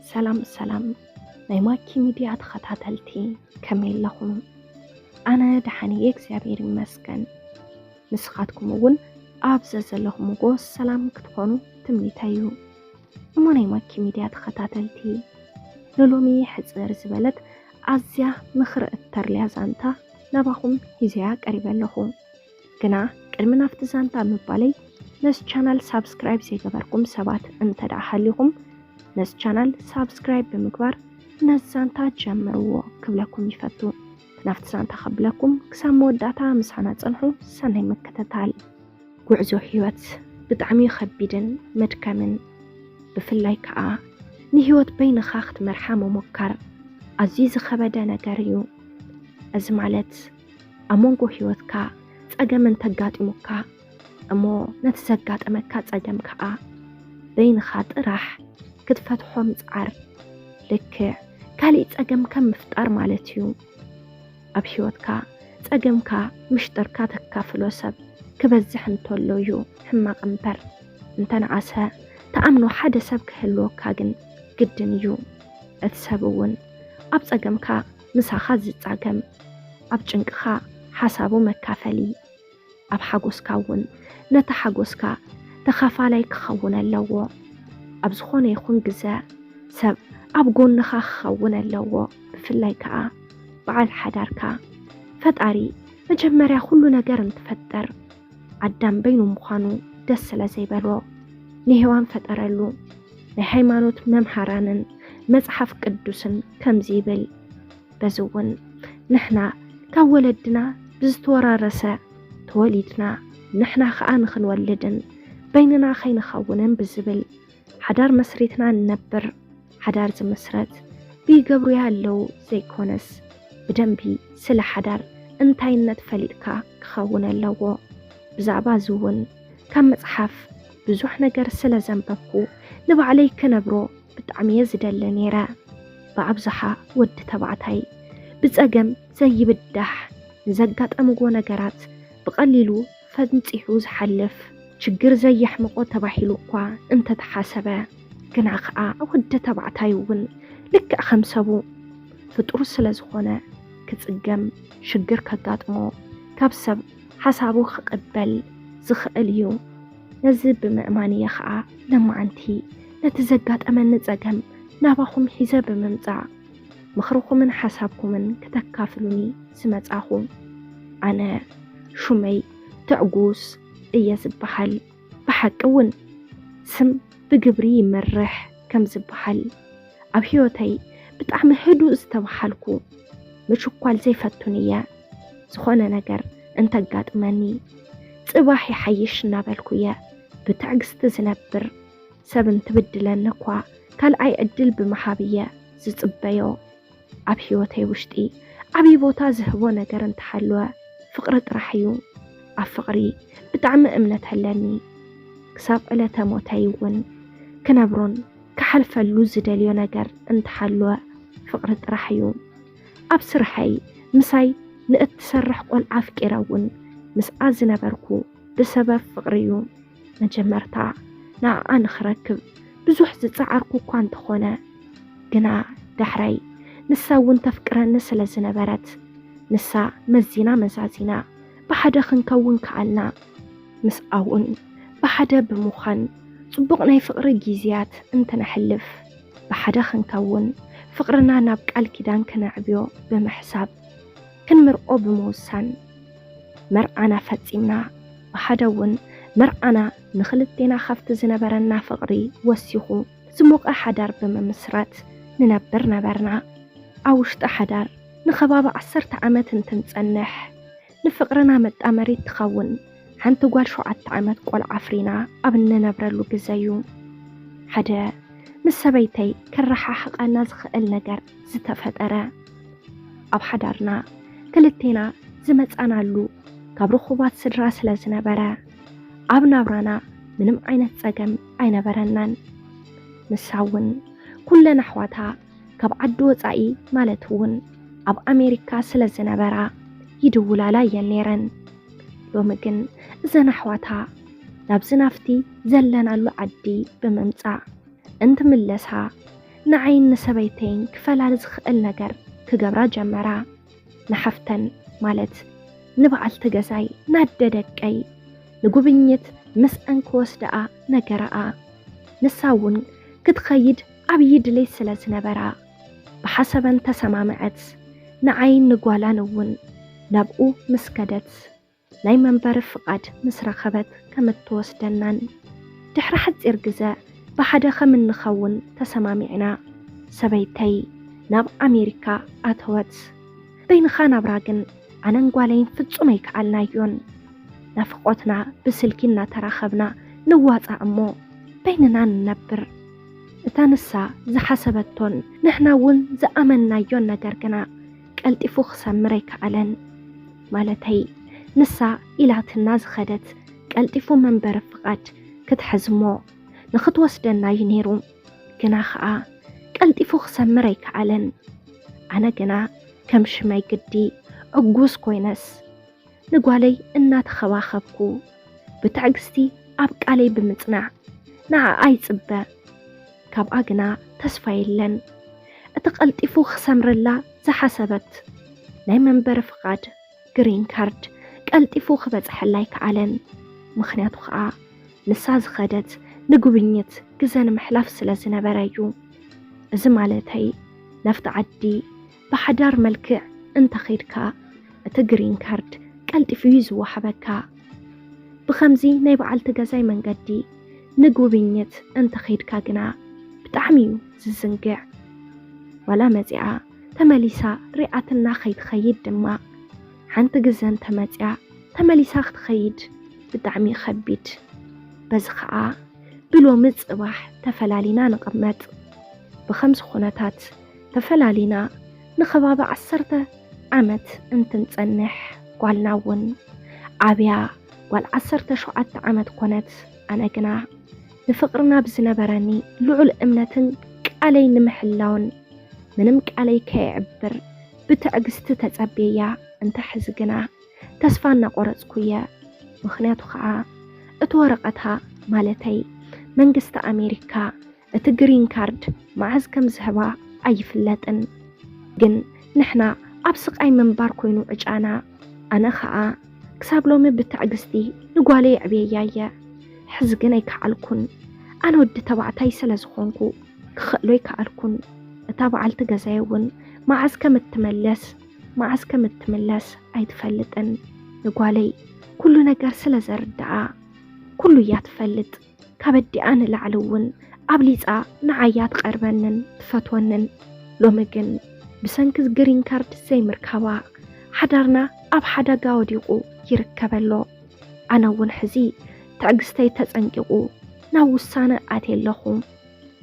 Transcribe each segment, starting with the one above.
ሰላም ሰላም ናይ ማኪ ሚድያ ተኸታተልቲ ከመይ ኣለኹም? ኣነ ደሓን እየ እግዚኣብሔር ይመስገን። ንስኻትኩም እውን ኣብ ዘዘለኹምዎ ሰላም ክትኾኑ ትምኒተይ እዩ። እሞ ናይ ማኪ ሚድያ ተኸታተልቲ ንሎሚ ሕፅር ዝበለት ኣዝያ ምኽሪ እተርልያ ዛንታ ናባኹም ሂዘያ ቀሪበ ኣለኹ። ግና ቅድሚ ናብቲ ዛንታ ምባለይ ነስ ቻናል ሳብስክራይብ ዘይገበርኩም ሰባት እንተደኣ ሃሊኹም ነስ ቻናል ሳብስክራይብ ብምግባር ነዚ ዛንታ ጀምርዎ ክብለኩም ይፈቱ። ናብቲ ዛንታ ከብለኩም ክሳብ መወዳእታ ምሳና ጸንሑ። ሰናይ ምክትታል። ጉዕዞ ህይወት ብጣዕሚ ከቢድን መድከምን ብፍላይ ከዓ ንህይወት በይንኻ ክትመርሓ ምሞካር ኣዝዩ ዝኸበደ ነገር እዩ። እዚ ማለት ኣብ መንጎ ህይወትካ ጸገም እንተጋጢሙካ እሞ ነቲ ዘጋጠመካ ጸገም ከኣ በይንኻ ጥራሕ ክትፈትሖ ምጽዓር ልክዕ ካልእ ጸገም ከም ምፍጣር ማለት እዩ። ኣብ ህይወትካ ጸገምካ ምሽጥርካ ተካፍሎ ሰብ ክበዝሕ እንተሎ እዩ ሕማቕ እምበር እንተነኣሰ ተኣምኖ ሓደ ሰብ ክህልወካ ግን ግድን እዩ። እቲ ሰብ እውን ኣብ ጸገምካ ምሳኻ ዝጻገም ኣብ ጭንቅኻ ሓሳቡ መካፈሊ ኣብ ሓጎስካ እውን ነቲ ሓጎስካ ተኻፋላይ ክኸውን ኣለዎ። ኣብ ዝኾነ ይኹን ግዘ ሰብ ኣብ ጎንኻ ክኸውን ኣለዎ ብፍላይ ከዓ በዓል ሓዳርካ። ፈጣሪ መጀመርያ ኩሉ ነገር እንትፈጠር ኣዳም በይኑ ምዃኑ ደስ ስለ ዘይበሎ ንሔዋን ፈጠረሉ። ናይ ሃይማኖት መምሃራንን መጽሓፍ ቅዱስን ከምዚ ይብል። በዚ እውን ንሕና ካብ ወለድና ብዝተወራረሰ ተወሊድና ንሕና ከኣ ንክንወልድን በይንና ከይንኸውንን ብዝብል ሓዳር መስሪትና ንነብር ሓዳር ዝምስረት ብይገብሩ ያለው ዘይኮነስ ብደንቢ ስለ ሓዳር እንታይነት ፈሊጥካ ክኸውን ኣለዎ ብዛዕባ እዚ እውን ካብ መጽሓፍ ብዙሕ ነገር ስለ ዘንበብኩ ንባዕለይ ክነብሮ ብጣዕሚ እየ ዝደሊ ነይረ ብኣብዝሓ ወዲ ተባዕታይ ብጸገም ዘይብዳሕ ንዘጋጠምዎ ነገራት ብቐሊሉ ፈንፂሑ ዝሓልፍ ችግር ዘየሕምቖ ተባሂሉ እኳ እንተተሓሰበ ግና ከዓ ወዲ ተባዕታይ እውን ልክዕ ከም ሰቡ ፍጡር ስለ ዝኾነ ክፅገም ሽግር ከጋጥሞ ካብ ሰብ ሓሳቡ ክቕበል ዝኽእል እዩ። ነዚ ብምእማን እየ ከዓ ለማዓንቲ ነቲ ዘጋጠመኒ ፀገም ናባኹም ሒዘ ብምምፃእ ምኽርኹምን ሓሳብኩምን ክተካፍሉኒ ዝመጻኹ። ኣነ ሹመይ ትዕጉስ እየ ዝበሃል። ብሓቂ እውን ስም ብግብሪ ይመርሕ ከም ዝበሃል ኣብ ህይወተይ ብጣዕሚ ህዱእ ዝተበሃልኩ ምችኳል ዘይፈቱን እየ። ዝኾነ ነገር እንተጋጥመኒ ጽባሕ ይሓይሽ እናበልኩ እየ ብትዕግስቲ ዝነብር። ሰብ እንትብድለኒ እኳ ካልኣይ ዕድል ብምሃብ እየ ዝፅበዮ። ኣብ ህይወተይ ውሽጢ ዓብዪ ቦታ ዝህቦ ነገር እንተሃለወ ፍቕሪ ጥራሕ እዩ። ኣብ ፍቕሪ ብጣዕሚ እምነት ኣለኒ። ክሳብ ዕለተ ሞተይ እውን ክነብሮን ክሓልፈሉ ዝደልዮ ነገር እንተሃለወ ፍቕሪ ጥራሕ እዩ። ኣብ ስርሐይ ምሳይ ንእትሰርሕ ቆልዓ ኣፍቂረ እውን ምስኣ ዝነበርኩ ብሰበብ ፍቕሪ እዩ። መጀመርታ ንኣኣ ንኽረክብ ብዙሕ ዝጸዓርኩ እኳ እንተኾነ ግና ዳሕራይ ንሳ እውን ተፍቅረኒ ስለ ዝነበረት ንሳ መዚና መዛዚና ብሓደ ክንከውን ከኣልና። ምስኣውን ብሓደ ብምዃን ጽቡቕ ናይ ፍቕሪ ጊዝያት እንትነሕልፍ ብሓደ ክንከውን ፍቕርና ናብ ቃል ኪዳን ክነዕብዮ ብምሕሳብ ክንምርቆ ብምውሳን መርዓና ፈጺምና፣ ብሓደ እውን መርዓና ንኽልቴና ካብቲ ዝነበረና ፍቕሪ ወሲኹ ዝሞቐ ሓዳር ብምምስራት ንነብር ነበርና። ኣብ ውሽጢ ሓዳር ንከባቢ ዓሰርተ ዓመት እንትንጸንሕ፣ ንፍቕርና መጣመሪት ትኸውን ሓንቲ ጓል ሸውዓተ ዓመት ቆልዓ ኣፍሪና ኣብ እንነብረሉ ግዘ እዩ ሓደ ምስ ሰበይተይ ከረሓሕቓና ዝኽእል ነገር ዝተፈጠረ። ኣብ ሓዳርና ክልቴና ዝመጻናሉ ካብ ርኹባት ስድራ ስለ ዝነበረ ኣብ ናብራና ምንም ዓይነት ጸገም ኣይነበረናን። ንሳ እውን ኩለን ኣሕዋታ ካብ ዓዲ ወጻኢ ማለት እውን ኣብ ኣሜሪካ ስለ ዝነበራ ይድውላላ እየን ነይረን። ሎሚ ግን እዘን ኣሕዋታ ናብዚ ናፍቲ ዘለናሉ ዓዲ ብምምጻእ እንትምለሳ ንዓይን ንሰበይተይን ክፈላሊ ዝኽእል ነገር ክገብራ ጀመራ። ንሓፍተን ማለት ንበዓልቲ ገዛይ ናደ ደቀይ ንጉብኝት ምስኣን ክወስደኣ ነገረኣ። ንሳ እውን ክትኸይድ ዓብዪ ድሌት ስለ ዝነበራ ብሓሰበን ተሰማምዐት። ንዓይን ንጓላን እውን ናብኡ ምስ ከደት። ናይ መንበሪ ፍቓድ ምስ ረኸበት ከም እትወስደናን ድሕሪ ሓጺር ግዘ ብሓደ ከም እንኸውን ተሰማሚዕና። ሰበይተይ ናብ ኣሜሪካ ኣተወት። በይንኻ ናብራ ግን ኣነን ጓለይን ፍጹም ኣይከኣልናዮን። ናፍቖትና ብስልኪ እናተራኸብና ንዋጻእ እሞ በይንና ንነብር። እታ ንሳ ዝሓሰበቶን ንሕና እውን ዝኣመንናዮን ነገር ግና ቀልጢፉ ክሰምር ኣይከኣለን። ማለተይ ንሳ ኢላትና ዝኸደት ቀልጢፉ መንበሪ ፍቓድ ክትሕዝሞ ንኽትወስደና እዩ ነይሩ። ግና ኸኣ ቀልጢፉ ክሰምር ኣይከኣለን። ኣነ ግና ከም ሽመይ ግዲ ዕጉስ ኮይነስ ንጓለይ እናተኸባኸብኩ ብትዕግስቲ ኣብ ቃለይ ብምጽናዕ ንዓኣ ይጽበ። ካብኣ ግና ተስፋ የለን። እቲ ቀልጢፉ ክሰምረላ ዝሓሰበት ናይ መንበሪ ፍቓድ፣ ግሪን ካርድ፣ ቀልጢፉ ክበጽሐላ ኣይከኣለን። ምኽንያቱ ከኣ ንሳ ዝኸደት ንጉብኝት ግዘ ንምሕላፍ ስለ ዝነበረ እዩ። እዚ ማለተይ ናብቲ ዓዲ ብሓዳር መልክዕ እንተ ኼድካ፣ እቲ ግሪን ካርድ ቀልጢፉ እዩ ዚወሃበካ። ብኸምዚ ናይ በዓልቲ ገዛይ መንገዲ ንጉብኝት እንተ ኼድካ ግና፣ ብጣዕሚ እዩ ዚዝንግዕ። ዋላ መጺኣ ተመሊሳ ሪኣትና ኸይትኸይድ ድማ፣ ሓንቲ ግዘ እንተ መጺኣ ተመሊሳ ክትኸይድ ብጣዕሚ እዩ ኸቢድ። በዚ ኸኣ ብሎሚ ጽባሕ ተፈላሊና ንቕመጥ። ብኸምዚ ኹነታት፣ ተፈላሊና ንኸባቢ ዓሰርተ ዓመት እንትንጸንሕ ጓልና እውን ዓብያ ጓል ዓሰርተ ሸውዓተ ዓመት ኮነት። ኣነ ግና ንፍቕርና ብዝነበረኒ ልዑል እምነትን ቃለይ ንምሕላውን ምንም ቃለይ ከየዕብር ብትዕግስቲ ተጸብየያ። እንተ ሕዚ ግና ተስፋ እናቆረጽኩ እየ። ምኽንያቱ ኸኣ እቲ ወረቐታ ማለተይ መንግስቲ ኣሜሪካ እቲ ግሪን ካርድ መዓዝ ከም ዝህባ ኣይፍለጥን ግን ንሕና ኣብ ስቃይ ምንባር ኮይኑ ዕጫና ኣነ ከኣ ክሳብ ሎሚ ብትዕግስቲ ንጓለይ ኣዕብየያ እየ ሕዚ ግን ኣይከዓልኩን ኣነ ወዲ ተባዕታይ ስለ ዝኾንኩ ክኽእሎ ኣይከኣልኩን እታ በዓልቲ ገዛይ እውን መዓዝ ከም እትመለስ መዓዝ ከም እትምለስ ኣይትፈልጥን ንጓለይ ኩሉ ነገር ስለ ዘርድኣ ኩሉ እያ ትፈልጥ ካበዲኣ ንላዕሊ እውን ኣብሊጻ ንዓያ ትቐርበንን ትፈትወንን ሎሚ ግን ብሰንኪ ግሪን ካርድ ዘይምርካባ ሓዳርና ኣብ ሓዳጋ ወዲቑ ይርከብ ኣሎ ኣነ እውን ሕዚ ትዕግስተይ ተጸንቂቑ ናብ ውሳነ ኣትየ ኣለኹ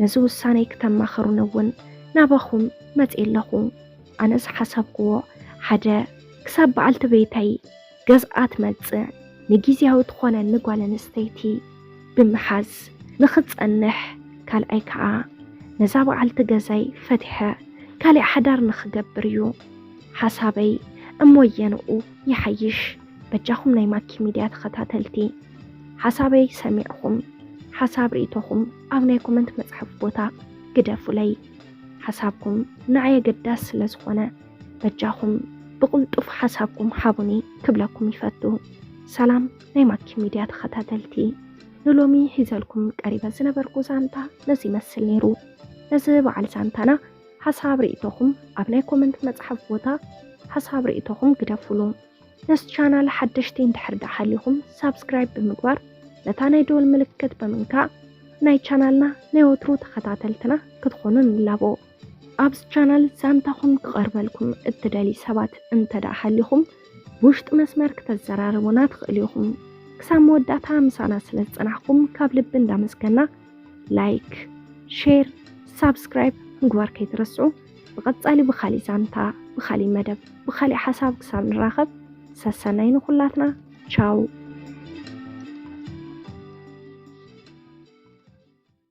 ነዚ ውሳነይ ክተማኸሩኒ እውን ናባኹም መጽየ ኣለኹ ኣነ ዝሓሰብኩዎ ሓደ ክሳብ በዓልቲ ቤተይ ገዝኣ ትመጽእ ንጊዝያዊ ትኾነኒ ጓል ኣንስተይቲ ብምሓዝ ንኽጸንሕ ካልኣይ ከኣ ነዛ በዓልቲ ገዛይ ፈቲሐ ካሊእ ሓዳር ንኽገብር እዩ ሓሳበይ እሞ ኣየንኡ ይሓይሽ በጃኹም ናይ ማኪ ሚድያ ተኸታተልቲ ሓሳበይ ሰሚዕኹም ሓሳብ ርኢቶኹም ኣብ ናይ ኮመንት መጽሐፍ ቦታ ግደፉለይ ሓሳብኩም ንዓይ ኣገዳሲ ስለ ዝኾነ በጃኹም ብቕልጡፍ ሓሳብኩም ሓቡኒ ክብለኩም ይፈቱ። ሰላም ናይ ማኪ ሚድያ ተኸታተልቲ፣ ንሎሚ ሒዘልኩም ቀሪበ ዝነበርኩ ዛንታ ነዚ ይመስል ነይሩ። ነዚ በዓል ዛንታና ሓሳብ ርእቶኹም ኣብ ናይ ኮመንት መፅሓፍ ቦታ ሓሳብ ርእቶኹም ግደፉሉ። ነስ ቻናል ሓደሽቲ እንድሕር ዳኣ ሃሊኹም ሳብስክራይብ ብምግባር ነታ ናይ ደወል ምልክት ብምንካእ ናይ ቻናልና ናይ ወትሩ ተኸታተልትና ክትኾኑ ንላቦ። ኣብዚ ቻናል ዛንታኹም ክቐርበልኩም እትደልዩ ሰባት እንተደኣ ሃሊኹም ብውሽጢ መስመር ክተዘራርቡና ትኽእሉ ኢኹም። ክሳብ መወዳእታ ምሳና ስለ ዝጸናሕኩም ካብ ልቢ እንዳመስገና ላይክ፣ ሼር፣ ሳብስክራይብ ምግባር ከይትረስዑ። ብቐጻሊ ብኻሊእ ዛንታ፣ ብኻሊእ መደብ፣ ብኻሊእ ሓሳብ ክሳብ ንራኸብ ሰሰናይ ንኹላትና ቻው።